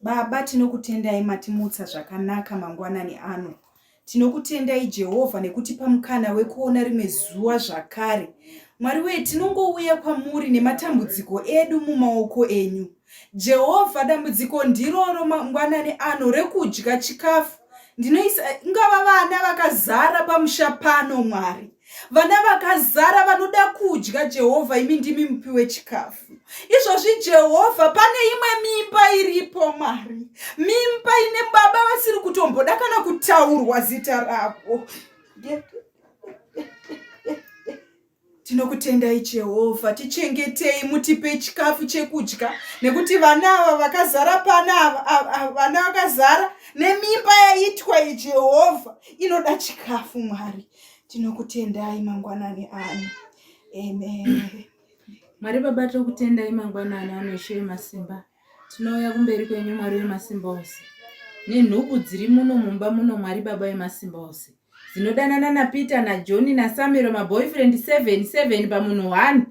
Baba, tinokutendai matimutsa zvakanaka mangwanani ano. Tinokutendai Jehovha nekutipa mukana wekuona rimwe zuva zvakare. Mwari wee, tinongouya kwamuri nematambudziko edu mumaoko enyu. Jehovha, dambudziko ndiroro mangwanani ano rekudya chikafu. Ndinoisa ingava vana vakazara pamusha pano, Mwari. vana vakazara vanoda kudya jehovha imi ndimi mupi wechikafu izvozvi jehovha pane imwe mimba iripo mwari mimba ine baba vasiri kutomboda kana kutaurwa zita ravo tinokutendai jehovha tichengetei mutipe chikafu chekudya nekuti vana ava vakazara pana vana vakazara nemimba yaitwa ijehovha inoda chikafu mwari Tinokutendai mangwanani ano. Amen. Mwari Baba tokutendai mangwanani ano Ishe Masimba. Tinouya kumberi kwenyu Mwari wemasimba ose. Nenhubu dziri muno mumba muno Mwari Baba wemasimba ose. Dzinodanana naPeter naJohn naSamiro maboyfriend 7 7 pamunhu 1.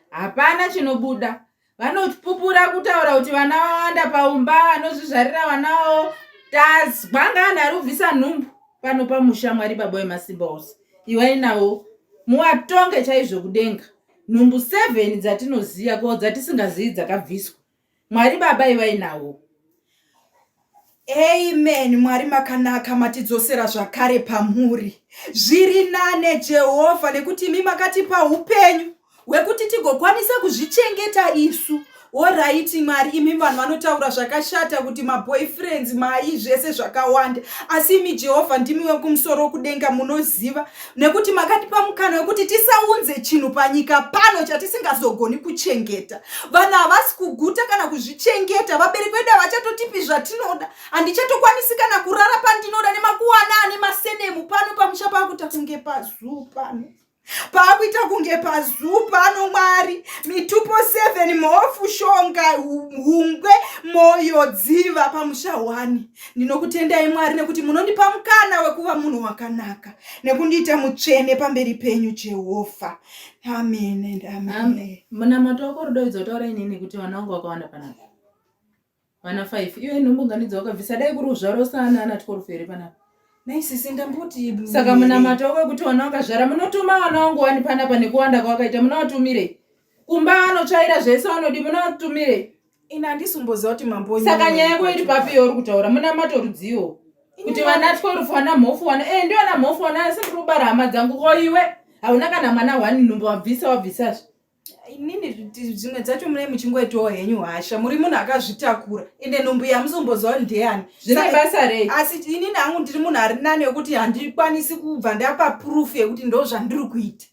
Hapana chinobuda. vanopupura kutaura kuti vana vawanda paumba vanozvizvarira vana vavo tazwa ngaani ari kubvisa nhumbu pano pamusha mwari baba wemasimba ose iwai navo muwatonge chaizvo kudenga nhumbu seven dzatinoziva ko dzatisingazivi dzakabviswa mwari baba iwai navo Amen Mwari makanaka matidzosera zvakare pamuri zviri nane Jehovha nekuti imi makatipa upenyu hwekuti tigokwanisa kuzvichengeta isu oraiti mwari imi vanhu vanotaura zvakashata kuti maboyfriends mai zvese zvakawanda asi imi jehovha ndimi wekumusoro kudenga munoziva nekuti makatipa mukana wekuti tisaunze chinhu panyika pano chatisingazogoni kuchengeta vanhu havasi kuguta kana kuzvichengeta vabereki vedu havachatotipi zvatinoda handichatokwanisi kana kurara pandinoda nemakuwana ane masenemu pano pamusha paakuita kunge pazuu pano paakuita kunge pazuu pano mwari mitupo 7 mhofu shonga hungwe moyo dziva pamusha wani Ndinokutendai Mwari nekuti munondipa mukana wekuva munhu wakanaka nekundiita mutsvene pamberi penyu Jehovha. Amen and amen. Munamato wako rudo idzi wataura inini nekuti vana vangu vakawanda panapa. Vana 5. Iwe nhumbuganidzo wakabvisa dai kuri uzvaro sana ana tikorufu here panapa. Nei sisi ndamboti saka munamato wako wekuti vana vakazvara munotuma vana vangu wani panapa nekuwanda kwawakaita munovatumire. Kumba anotsvaira zvese vanodi munovatumire. ini handisi kumboziva kuti mambo saka nyaya yako iri papi yauri kutaura munamato rudziwo kuti vanatwe rufu wana mhofu wana e eh, ndi wana mhofu wana asi ndiri kubara hama dzangu ko iwe hauna kana mwana wani nhumbu wabvisa wabvisazve inini zvimwe dzacho mune muchingoitawo henyu hasha muri munhu akazvitakura ende nhumbu yamusomboziva ndeyani zvine basa rei asi inini hangu ndiri munhu ari nani wekuti handikwanisi kubva ndapa proof yekuti ndo zvandiri kuita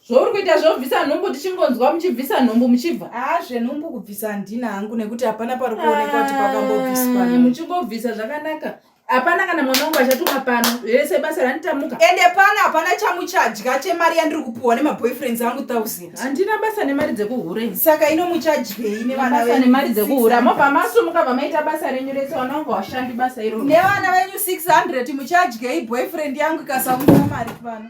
zvouri kuita zvobvisa nhumbu tichingonzwa muchibvisa nhumbu muchibva haa zvenhumbu kubvisa handina hangu nekuti hapana pari kuonekwa kuti pakambobviswa muchingobvisa zvakanaka hapana kana mwana wangu achatuma pano rese basa randitamuka ende pano hapana chamuchadya chemari yandiri kupiwa nemaboyfriends angu thousand handina basa nemari dzekuhure saka ino muchadyei nevana nemari dzekuhura mobva masumuka bva maita basa renyu rese vana wangu hashandi basa iro nevana venyu 600 muchadyei boyfriend yangu ikasaunza mari pano